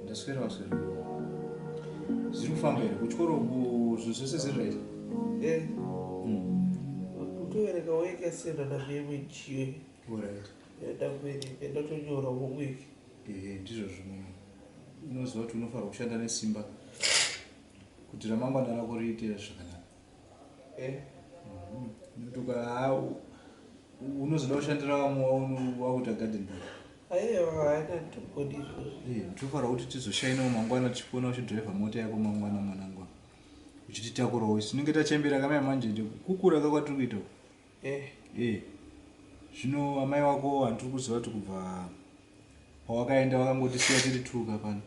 ndaswerawo swera zviri kufamba here kuchikoro zvinhu zvese zviri right eh. hmm. kutovereka weka sendana vemwechiyo orit yadakuvereka ndatonyora homework Ehe ndizvo zvimwe unoziva kuti unofanirwa kushanda nesimba kuti ramangwana rako riite zvakanaka eh ndotuka mhm. unozoda kushandira vamwe wakuita garden boy ndofanira eh, kuti tizoshainawo mangwana tichikuona uchidriver mota yako mangwana mwanangwa uchititakurawo isu tinenge tachembera kamai manje kukura kakwatiri kuita Eh. Eh. Zvino amai wako handiri kuziva kuti kubva pawakaenda wakangotisiya tiri tuka pano.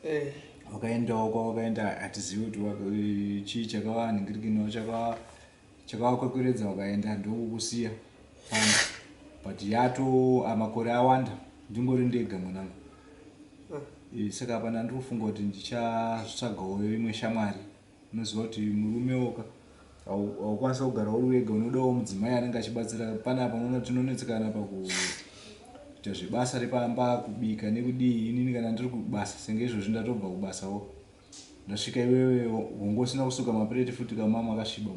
Eh. Wakaendawo kwawakaenda hatizivi kuti eh, chii chakava nhingirikino chakava chakava kwekweredza wakaenda ndokukusiya pano. But yato amakore awanda ndingori ndega mwanangu. Eh. Eh, saka hapana ndiri kufunga kuti ndichazvitsvagawo imwe shamwari. Unoziva kuti murume woka haukwanisa kugara uri wega unodawo mudzimai anenge achibatsira pana apa unoona tinonetsekana pakuita zvebasa repamba kubika nekudii inini kana ndiri kubasa senge izvozvi ndatobva kubasawo ndasvika iwewe hongo usina kusuka mapureti futi kamama akasviba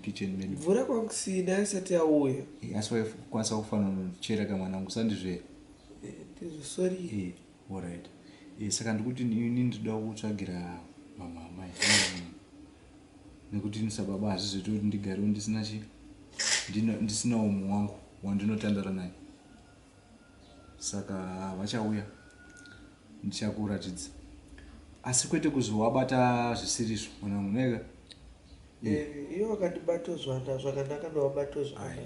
mukitchen medu mvura kwakusina asati auya eh, asi waikwanisa kufanira kuchera kamwana angu sandizvee eh, eh, sorry eh. Horaiti eh, saka ndikuti ini ndinoda kutsvagira mama amai nekuti ini sababa hazvizoita kuti ndigarewo ndisina chi ndisinawo mumwe wangu wandinotandara naye saka vachauya ndichakuratidza asi kwete kuzovabata zvisiri izvo mwanangu neka Eh, iye wakandibato zvana zvakanaka ndawabato zvana.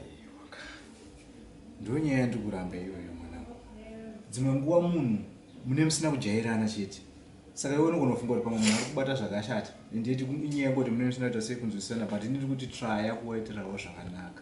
Ndonyaya yandikuramba iyoyo mwanangu. Dzimwe nguwa munhu mune musina kujairana chete. Saka iwe unogona kufunga kuti pamwe munhu ari kubata zvakashata. Ende inyaya yangoti mune musina kuita sei kunzwisisana but ini ndiri kuti traya kuwaitirawo zvakanaka.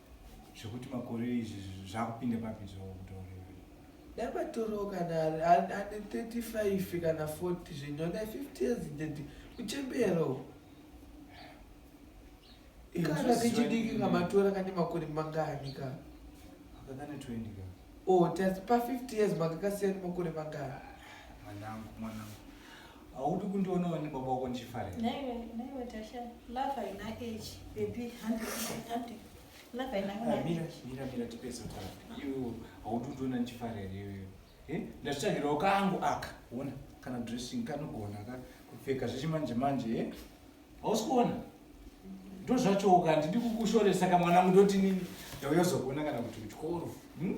zvekuti makore izvi zvakupinda papi zvavo kutaurira ndabatoro kana ane 35 kana 40 zvenyona 50 years ded uchembero kana kechidiki kamatora kane makore mangani ka akakane 20 ka o oh, tasi pa 50 years makakasiyani makore mangani mwanangu mwanangu haudi kundionawo nebaba wako ndichifarira naiwe naiwe tasha love haina age baby handi handi love haina Ah, age mira mira mira tipedze kutaura iwewo haudi kundiona ndichifarira iwewe Eh, ndazvitsvagirawo kangu aka ona kana dressing kanogona ka kupfeka zvechimanje manje e hausi kuona ndo zvachowo ka ndidi kukushoresa ka mwanangu ndoti nini ndauya kuzokuona kana kuti kuchikoro hmm?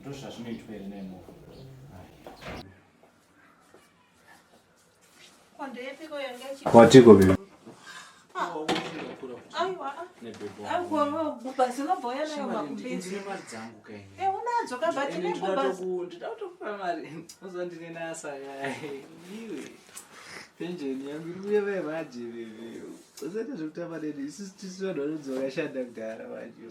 ndozvazvinoitwa here nemo kwatiko bebe penjeni yangu iri kuye vaye vaje veve usati zvekutamba neni isu tisu vanhu vanonzi vakashanda kudhara vajo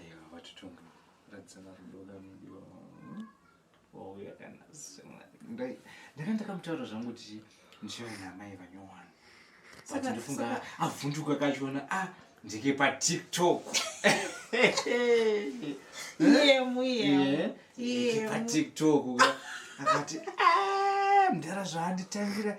Aiwa vatutundu radzana rudo kamudiwa wauya kana ndai ndanga ndakamutaura zvangu kuti ndichave namai vanyowani but ndofunga avhunduka kachiona a ah, ndike patiktok patiktok akati ah, mdara zvaanditangira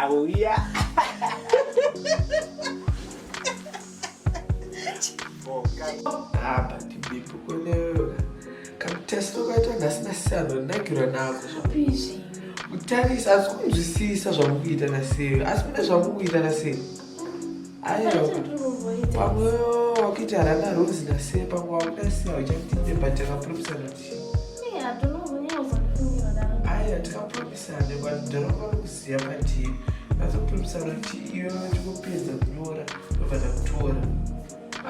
Auya. Apa tibipu kunewe. Kamutest wakaita nhasi nasiyano ndagirwa nako. Zvapizi. Kutarisa asi kunzwisisa zvamukuita nasiyano. Asi kune zvamukuita nasiyano. wakuita rana rose nase pamwe wakuda siya uchakutinde but takapromisana kuti aya takapromisana but ndoramba kusiya patiri azopromisana kuti iwe vachikupedza kunyora vabva takutora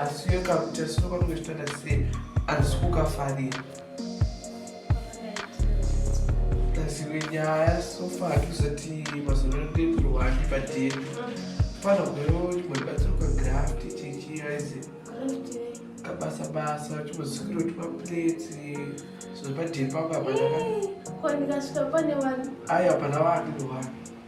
asi uyo kakutasinokanongechitanda sei andisi kukafarira tazive nyaya sofa hatisati mazuva ano tekurwani patenu fana gwero chimboibatsiruka graft tichiaize kabasa basa chimbosikiro timapleti zvinhu padeni pamba panaa aya pana vanhu wani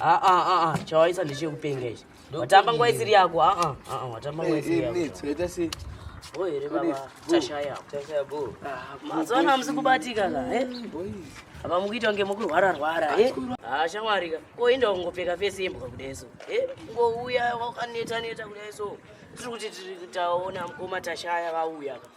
Ah, ah, ah, ah. chawaisa ndechekupenga ichi watamba nguva isiri yako ah, ah, ah, ah, watamba nguva isiri yako Boy, here baba tashaya ah, mazuva ano hamusi kubatika ka eh? apa mukuita kunge mukurwara rwara eh? ah, shamwari ka koenda kungopfeka fesi yembwa kudai so eh? ngouya wakaneta neta kudai so tiri kuti tiri taona mukoma tashaya vauya ka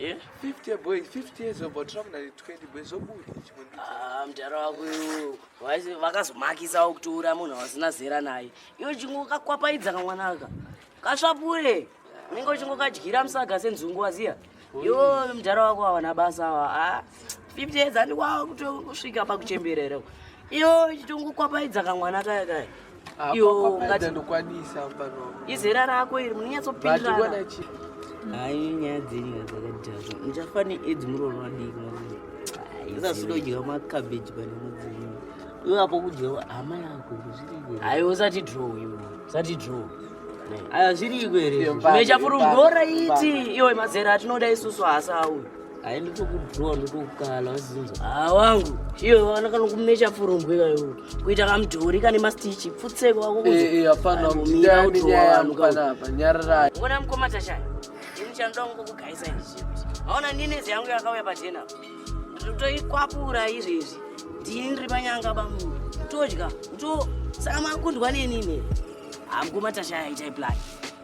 Eh? 50 boys 50 years old but ramna 20 boys zobuda chimwe ndicho Ah, mdara wako iwo waisi- vakazomakisawo kutoura munhu wasina zera naye iwe chingokakwapaidza kamwanaka kasvapure unenge uchingokadyira musaga senzungu waziya iwo mdara wako awana basa awa ah, 50 years ati wava kutosvika pakuchemberera iyo ichitongokwapaidza kamwana kaya kaya ah, iyo ngati ndokwanisa pano izera rako iri munonyatsopindirana hayi nyaya dzenyu dzakadhaka muchafa needzi murooro vadiki zasidodyika makabeji pane mudzimu iwapo kudya hama yako zviriiko hayi usati draw iwe usati draw aya zviriiko here zvimwe chafurumgora iti iwe mazera atinoda isusu hasa auyo Hai ndotokudhuwa ndotokukala wazinzwa. Ah wangu. Iyo wana kana kumecha furumbwe kayo. Kuita kamudhori kane mastichi pfutseko wako kuzo. Eh eh hapana mira kuti wanu kana hapa nyarara. Ngona mkoma tashaya. Ini chando wangu kugaisa izvi. Haona nini zyangu yakauya pajena. Ndotoikwapura izvi izvi. Ndini ri panyanga bamu. Todya. Ndo saka makundwa neni ne. Amkoma tashaya itai plan.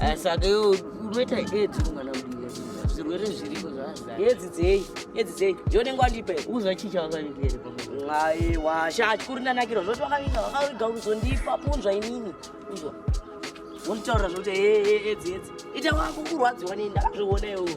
Eh, saka iwe unoita edzi kumwana mudiki zvirwere zviriko zvazaa edzi dzei edzi dzei ndionenge wandipa uzachicha wakavikere aiwa sha chikuru ndanakira zvoti wakavinga wakaviga kuzondipa punzwa inini uzwa wonditaurira zvoti edzi edzi ita wako kurwadziwa nei ndakazviona iwowo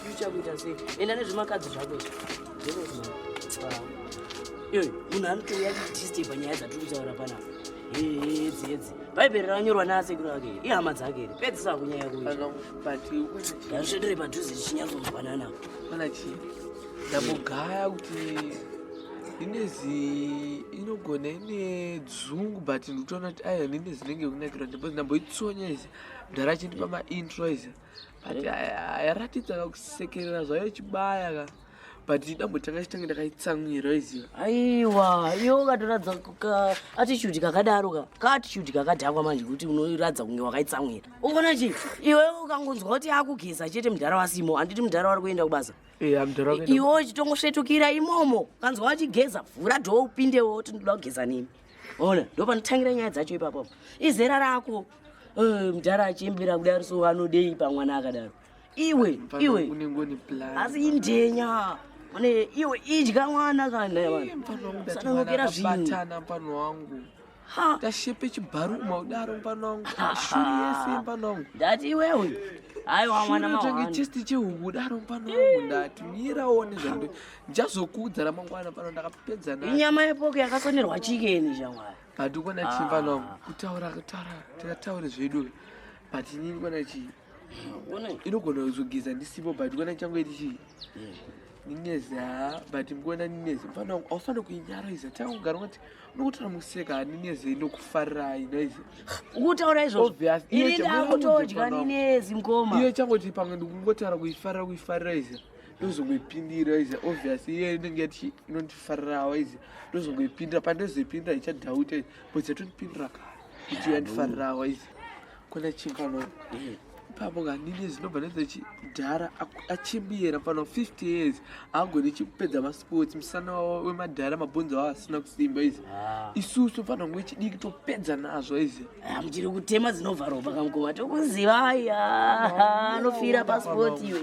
future kuita sei enda nezvemakadzi zvako iyoyo munhu anotouya kudisteba nyaya dzatiri kutaura panapa hedzi hedzi bhaibheri rakanyorwa naasekuru ake ihama dzake ri pedzisa kunyaya kuiazvisvedere padhuze tichinyatsonzwanana panachi ndambogaya kuti ndinezi inogona ine dzungu but ndikutoona kuti aya ndine zinenge kunakirwa ndipo ndamboitsonyezi mdhara achindipa maintro izaa but yaratidza kakusekerera zvayo chibaya ka but dambo tanga chitange ndakaitsamwira iziva aiwa iyo ukatoratidza attitude kakadaro ka kaattitude kakadhakwa manje kuti unoratidza kunge wakaitsamwira uona chii iwe ukangonzwa kuti akugeza chete mudhara wasimo handiti mudhara wari kuenda kubasa iwe uchitongosvetukira imomo ukanzwa wachigeza vhura dhoo upindewo kuti ndoda kugeza nemi ona ndopanotangira nyaya dzacho ipapo izera rako eh, mudhara achiembera kudaro so anodei pamwana akadaro iwe iwe asi indenya mane iwe idya mwana kana sanongera zvinhu tashepe chibharu maudaro mupano wangu shuri yese mupano wangu ndati iwewe aiwa mwana mawangu chesti chehuku daro mupano wangu ndati mirawo nezvando ndichazokuudza ramangwana pano ndakapedza nayo inyama yepoke yakasonerwa chikeni shamwari handikona ah. chimba no kutaura kutaura tikataure zvedu but ini ndikona chii inogona kuzogeza ndisipo but ndikona changoiti chii nineza but ndikona nineza mfana wangu aufanire kuinyaraiza tanga kugara ungati unokutora museka nineze inokufarirai noize ukutaura izvozvoiakutodya ninezi mkoma iyo changoti pamwe ndikungotaura kuifarira kuifarira ize ndozongoipindira izi obvious iye inenge yati inondifarirawa izi ndozongoipindira pandozoipindira ichadhauta izi but yatondipindira kare kuti yandifarirawa izi kona chingano ipapo nganini zinobva nezachi mudhara achimbiyera pano 50 years haagoni chikupedza masports musana wavo wemadhara mabhonzo avo asina kusimba izi ah. isusu fana kunge chidiki topedza nazvo izi ah, muchiri kutema dzinobva ropa kamukowa tokuziva aya anofira pasports iwe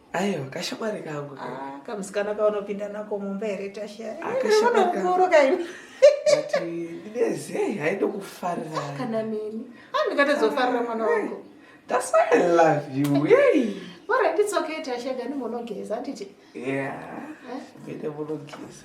aiwa kashamwari kangu ah, kamusikana kaunopinda nako mumba here tashayaakashamarikangu nezei haindokufarira kana neni andikatozofarira ah, mwana wangu that's why i love you yey Alright, it's okay, Tasha. Gani monogeza, auntie. Yeah. Eh? Vete monogeza.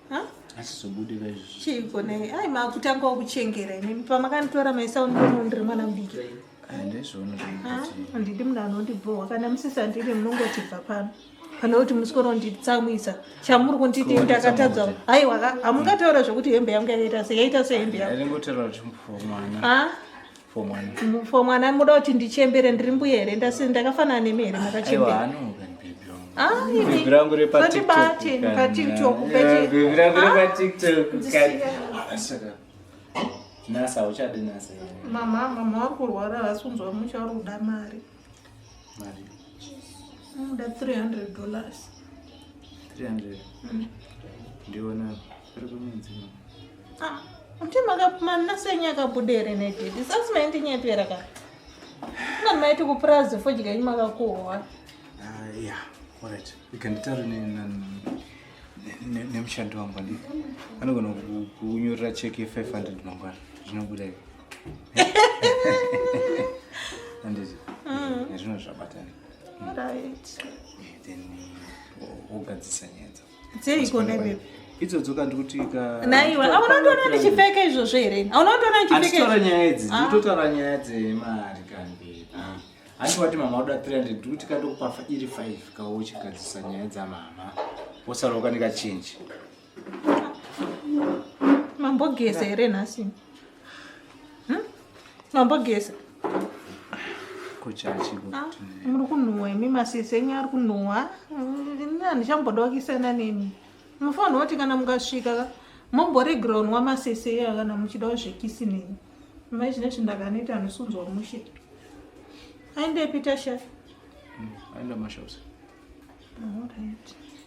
asizobudira izvi chiiko nei ai makutanga kuchengera inini pamakanditora maisaundonondiri mwana mudiki handidi munhu anondibhohwa kana musisandiri munongoti bva pano pane kuti musikoro nditsamwisa chamuri kunditi ndakatadza aiwa hamungataura zvekuti hembe yangu yakaita se yaita sehembe yangu for mwana muda kuti ndichembere ndiri mbuya here ndakafanana nemi here makachembera andibate patiktok mama mama vari kurwara havasi kunzwa muchauri kuda mari mari unoda 300 dollars 300 mm. ndiona ari kumedzi ah, mti makapumana senyu akabuda here nededi sasi maindinyepera ka ngani maiti kupurazi fodya inyu makakuhowa ah, ya orit ikanditaura nemushandi wangu andi anogona kunyorera cheki ye 500 mangwana zvinobuda ivo anditi mm. nezvino zvabatana then wogadzisa nyaya dzao dzeiko nebebi idzodzo kandi kuti naiwa auna kutoona ndichipfeka izvozvo here auna kutoona ndichipfekaatitora nyaya idzi ah. nditotaura nyaya dzemari kandi ah. hanti wati mama uda 300 ndikuti kandokupa iri 5 kauchigadzisa nyaya dzamama wosara ukaneka change mambogeza here nhasi hmm? mambogeza ah, muri kunhuwa imi masisi enyu ari kunhuwa ini handichambodawo kisana nemi mufanira kuti kana mukasvika momboregera unwa masisi eya kana muchidawo zvekisi neni mai chine chindakaneti anosunzwa mushe aendepi tasha hmm, aenda mashops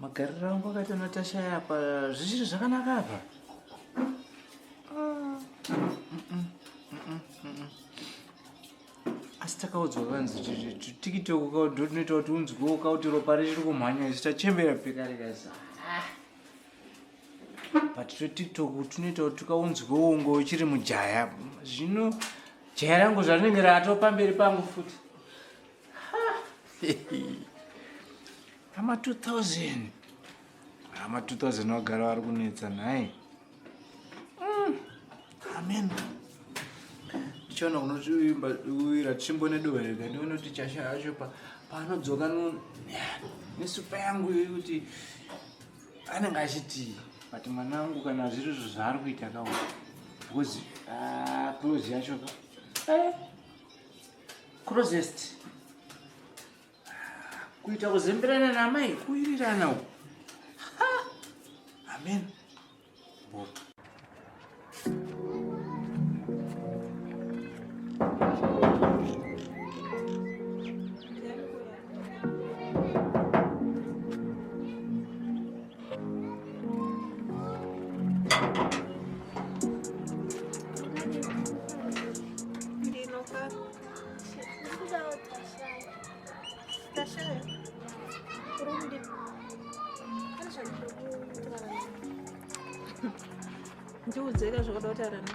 magariro angu akaita natasha yapa zvichiri zvakanaka apa asi takaudzwa kanzi tikiti ukaudo tinoita kuti unzwewo kauti ropa richiri kumhanya isu tachembera pekare kazi ah. but totiktok tunoita kuti tukaunzwewo ngo uchiri mujaya zvino jaya rangu zvarinenge rato pamberi pangu futi Ama 2000. Ama 2000 wagara vari kunetsa nhai. Mm. Amen. Chona unochiimba uira chimbo nedohwa rega ndione kuti chasha yacho pa paanodzoka no nesupa yangu yekuti anenge achiti but mwana wangu kana zviri izvo zvaari kuita kawo because ah, close yacho ka eh, closest kuita kuzemberana namai kuirirana uku amen Boka. ndiudzeka zvakada kutaura na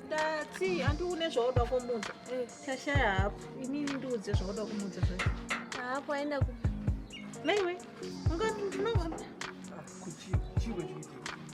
ndati handi une zvauda kumudza eh. tashaya hapo inini ndiudze zvauda kumudza zvacho hapo aenda ku naiwe unga ndinoona ah, kuchii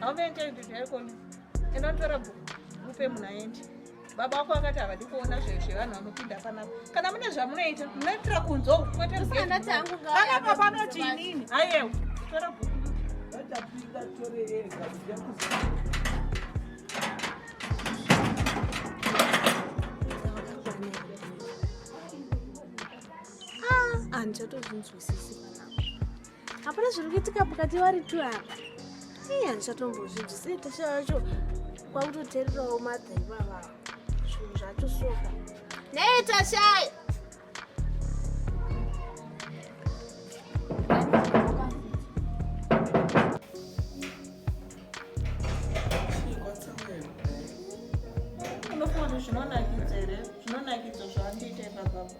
How many times did I call you? And not for a book. Upe munaendi. Baba wako akati havadi kuona zvinhu zvevanhu vanopinda panapa. Kana mune zvamunoita, munoitira kunzwa kwete Usana tangu ngawa. Kana baba anoti inini. Ayewa. Tora book. Ndapinda tore ega. Ah, andichatozvinzwisisi panapa. hapana zviri kuitika pakati vari two apa ii handisatombozvinzwisei tasha yacho kwakutoteererawo madha ivava zvinhu zvacho soka nei tashai unofunga kuti zvinonakidza here zvinonakidza zvaandiita ipapapa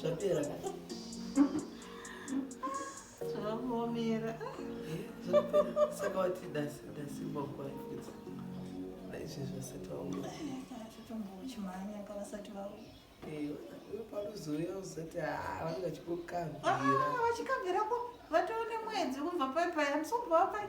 zvapera zvamomera saka wati dasi dasi bokwaifudza izvi zvose taoma tombouchimhanya kavasati vauya panozouya uzoti vange vachikukabvira vachikabvirapo vatoone mwedzi kubva pai pai amusombova pai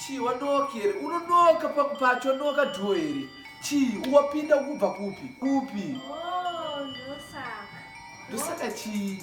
chii wanooka here unonooka pacho nooka dhuo here chii wapinda kubva kupi kupi oh, ndosaka chii